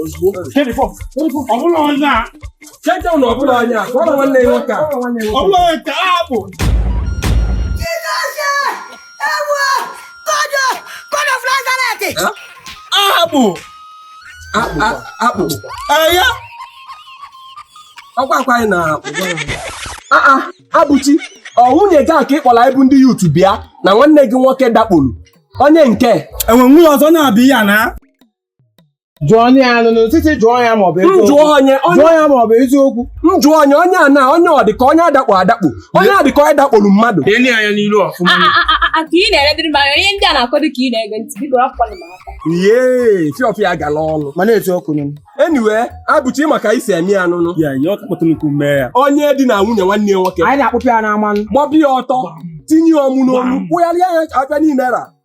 ozugbo ọ bụla onye a cheta na ọ bụla onye a ka ọ na nwanne ya nwoke a ọ bụla onye ka a bụ akpụ akpụ ya ọkwa akwa anyị na Abụchi ọ nwunye gị a ka ị kpọrọ anyị bụ ndị youth bịa na nwanne gị nwoke dakporu onye nke enwe nwunye ọzọ na-abụghị ya na jụọ onye ya nụ n'ụtụtụ jụọ ya ma ọ bụ m eziokwu jụọ onye onye jụọ ya ma ọ bụ eziokwu m jụọ onye onye a na onye ọ dị ka onye adakpo adakpo onye a dị ka onye dakporo mmadụ Leenụ ya anya n'iru ọfụma. A- a- a- a- ka ị na-eledịrị m anya ihe ndị a na-akọdụ ka ị na-ege ntị biko rapụkwanụ m aka yee ọfịa gala ọnụ mana etu ọkụ nụ anyway Abụchi ị ma ka e si eme ya nụnụ Ya ya ọ kpọtụ nnukwu mee ya. onye dinaa nwunye nwanne ya nwoke anyị na-akpụpụ ya n'ama nụ gbọbi ya ọtọ tinye ya ọmụ n'olu kpụgharịa ya aka niile ra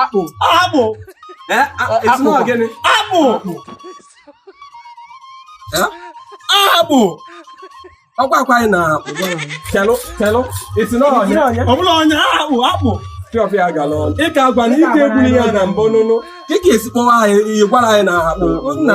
akpụ akpụ akpụ gịnị akpụ akpụ ọkwa akwa anyị na akpụ kelụ kelụ isi na onye ọbụla onye akpụ akpụ ọfịa gala ọnụ ịka agwa na ike egbuli ya na mbụ nụnụ ị ga-esi kpọwa anyị gwara anyị na akpụ na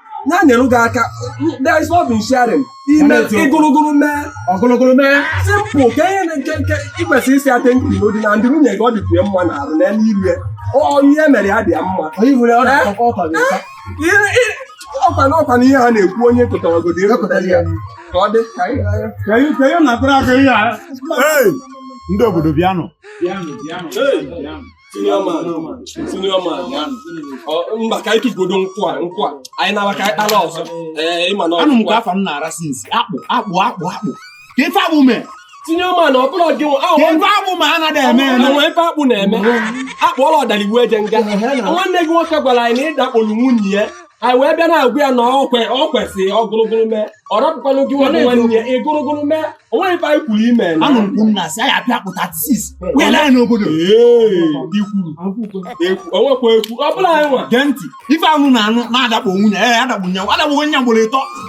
ya nyere gị aka there is love in sharing ime ịgụrụgụrụ mee ọgụrụgụrụ mee simple ka ihe nke nke ikwesịrị isi ate nkiri n'odi na ndị nwunye gị ọ dịkwu ya mma na arụ na elu iru ya ọ ihe mere ya dị ya mma ọkwa na ọkwa na ihe ha na-ekwu onye kụtaragodo ịrụpụtara ya ka ọ dị ka ihe na-atụrụ aka ihe a ndị obodo bịanụ senior man senior man mba ka anyị tụgodo nkwụ a nkwụ a anyị na-awa ka anyị kpara ọzọ ee ịma na anụ m ka afa m na-ada since akpụ akpụ akpụ akpụ ka ife akpụ mee tinye ọma na ọbụla gị ife akpụ ma anaghị eme eme nwe ife akpụ na-eme akpụ ọla ọdara iwu eje nga nwanne gị nwoke gwara anyị na ị dakpolu nwunye ya anyị wee bịa na-agwa ya na ọkwe ọ kwesịrị ọ gụrụgụrụ mee ọ rapụkwanụ gị nwa nwanne ya ị gụrụgụrụ mee o nweghị ife anyị kwuru ime na anụ nkwụ nna si anyị apịa pụta sis wee lee n'obodo ikwuru ekwu o nwekwa okwu ọ bụla anyị nwa gee ntị ife anụ na anụ na-adakpo nwunye ya adakpo nyanwụ adakpo nwunye ya ugboro ịtọ